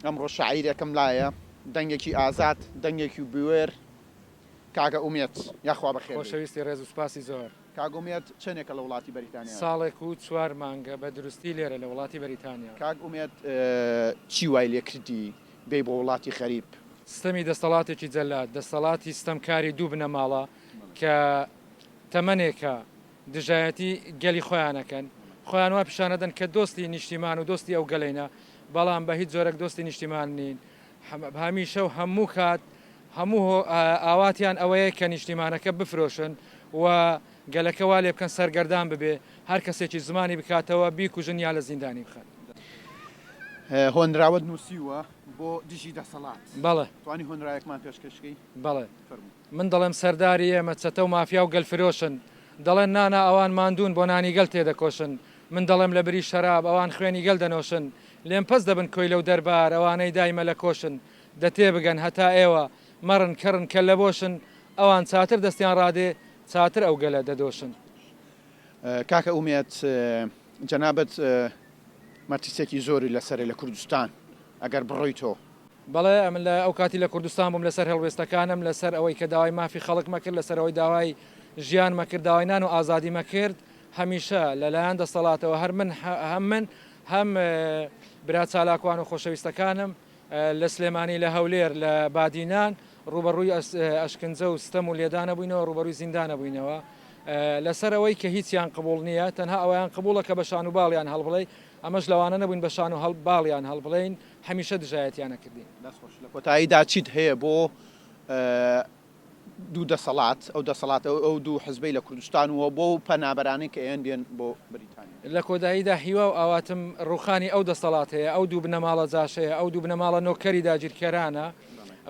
ئەمڕۆ شاعیرێکم لایە دەنگێکی ئازاد دەنگێکی بوێر کاکە ئومێد یاخوا بەخێر بێی. خۆشەویستی ڕێز و سوپاسی زۆر. کاک ئومێد چەنێکە لە وڵاتی بەریتانیا؟ ساڵێک و چوار مانگە بە دروستی لێرە لە وڵاتی بەریتانیا. کاک ئومێد چی وای لێ کردی بێی بۆ وڵاتی غەریب؟ ستەمی دەستەڵاتێکی جەلاد، دەستەڵاتی ستەمکاری دوو بنەماڵە کە تەمەنێکە دژایەتی گەلی خۆیان ئەکەن خۆیان وا پیشان ئەدەن کە دۆستی نیشتیمان و دۆستی ئەو گەلەینە بەڵام بە هیچ جۆرەک دۆستی نیشتیمان نین هەمیشە و هەموو کات هەموو ئاواتیان ئەوەیە کە نیشتیمانەکە بفرۆشن و گەلەکە وا لێ بکەن سەرگەردان ببێ هەر کەسێکی زمانی بکاتەوە بیکوژن یا لە زیندانی بخەن هۆنراوەت نووسیوە بۆ دژی دەسەڵات بەڵێ توانی هۆنراوێکمان پێشکەشکەی بەڵێ فەرموو من دەڵێم سەرداری ئێمە چەتە و مافیا و گەل فرۆشن دەڵێن نا نا ئەوان ماندوون بۆ نانی گەل تێدەکۆشن من دەڵێم لە بری شەراب ئەوان خوێنی گەل دەنۆشن لێم پەس دەبن کۆیلە و دەربار ئەوانەی دایمە لە کۆشن دە تێبگەن هەتا ئێوە مەڕن کەڕن کەللە بۆشن ئەوان چاتر دەستیان ڕادێ چاتر ئەو گەلە دەدۆشن. کاکە ئومێد جەنابت مەترسیەکی زۆری لەسەرە لە کوردستان ئەگەر بڕۆیتۆ بەڵێ ئەمن لە ئەو کاتی لە کوردستان بووم لەسەر هەڵوێستەکانم لەسەر ئەوەی کە داوای مافی خەڵک مەکرد لەسەر ئەوەی داوای ژیان مەکرد داوای نان و ئازادی مەکرد هەمیشە لە لایەن دەستەڵاتەوە هەر من هەم من هەم برا چالاکوان و خۆشەویستەکانم لە سلێمانی لە هەولێر لە بادینان ڕوبەڕووی ئەشکنجە و ستەم و لێدانە بووینەوە ڕوبەرووی زیندانە بووینەوە لەسەر ئەوەی کە هیچیان قبول نییە تەنها ئەویان قبولە کە بە شان و باڵیان هەڵبڵێ ئەمەش لەوانە نەبووین بە شان و هەڵ باڵیان هەڵبڵین هەمیشە دژایەتیان ئەکردین. دەست خۆش. لە کۆتاییدا چیت هەیە بۆ دوو دەسەڵات، ئەو دەسەڵات ئەو دوو حزبەی لە کوردستان و بۆ ئەو پەنابەرانەی کە ئێن دێن بۆ بریتانیا؟ لە کۆداییدا هیوا و ئاواتم ڕووخانی ئەو دەسەڵات هەیە، ئەو دوو بنەماڵە جاشەیە، ئەو دوو بنەماڵە نۆکەری داگیرکەرانە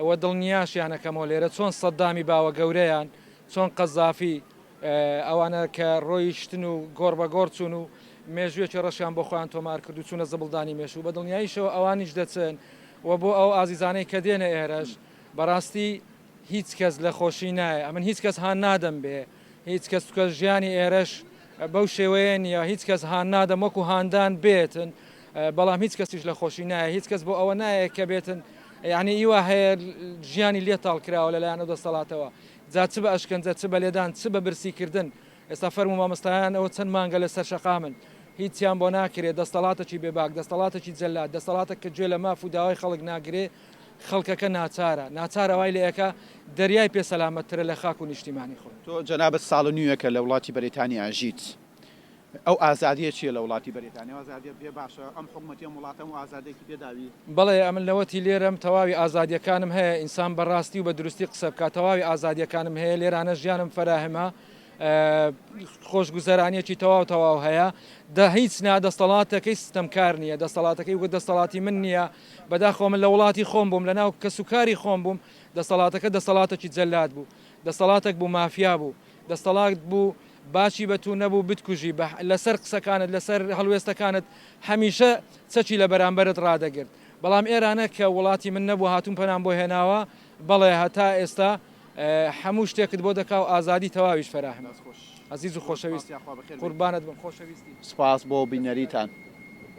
و دڵنیاشیان ئەکەمەوە لێرە چۆن سەددامی باوە گەورەیان، چۆن قەزافی، ئەوانە کە ڕۆیشتن و گۆڕ بە گۆڕ چوون و مێژوویەکی ڕەشیان بۆ خۆیان تۆمار کرد و چوونە زبڵدانی مێژوو، بە دڵنیاییشەوە ئەوانیش دەچن و بۆ ئەو ئازیزانەی کە دێنە ئێرەش، بەڕاستی هیچ کەس لە خۆشی نایێ. ئەمن هیچ کەس هان نادەم بێ هیچ کەس، چونکە ژیانی ئێرەش بەو شێوەیە نییە، هیچ کەس هان نادەم وەکوو هاندان بێتن، بەڵام هیچ کەسیش لە خۆشی نایێ، هیچ کەس بۆ ئەوە نایێ کە بێتن یانی ئیوا هەیە ژیانی لێ تاڵ کراوە لەلایەن ئەو دەستەڵاتەوە، جا چ بە ئەشکەنجە چ بە لێدان چ بە برسی کردن ئێستا فەرموو مامۆستایان ئەوە چەند مانگە لە سەر شەقامن هیچیان بۆ ناکرێ دەستەڵاتەکی بێ باک دەستەڵاتەکی جەلاد دەستەڵاتەک کە گوێ لە ماف و داوای خەڵک ناگرێ خەڵکەکە ناچارە ناچارە وای لێ ئەکا دەریای پێ سەلامەت ترە لە خاک و نیشتیمانی خۆی. تۆ جەنابت ساڵ و نیوێکە لە وڵاتی بەریتانیا ئەژیت ئەو ئازادیە چیە لەوڵاتی بەریتانیا؟ ئازادیە پێ باشە؟ ئەم حکومەتی ئەم وڵاتە ئەم ئازادیەتی پێ داوی؟ بەڵێ ئەمن لەوەتی لێرەم تەواوی ئازادیەکانم هەیە ئینسان بەڕاستی و بەدروستی قسە بکات تەواوی ئازادیەکانم هەیە لێرانە ژیانم فەراهمە خۆشگوزەرانیەکی تەواو تەواو هەیە دە هیچ نا دەستەڵاتەکەی ستەم کار نییە دەستەڵاتەکەی وە دەستەڵاتی من نییە بەداخۆ من لە وڵاتی خۆم بووم لە ناو کەسوکاری خۆم بووم دەستەڵاتەکە دەستەڵاتەکی جەلات بوو دەستەڵاتەک بوو مافیا بوو دەستەڵاکت بوو باچی بە تو نەبوو بتکوژی بە لەسەر قسەکانت لەسەر هەڵوێستەکانت هەمیشە چەکی لە بەرامبەرت ڕادەگرت بەڵام ئێرانە کە وڵاتی من نەبوو هاتوون پەنام بۆ هێناوە بەڵێ هەتا ئێستا هەموو شتێکت بۆ دەکا و ئازادی تەواویش فەراهم ئەزیز و خۆشەویست قوربانت بم خۆشەویستی. سپاس بۆ بینەریتان.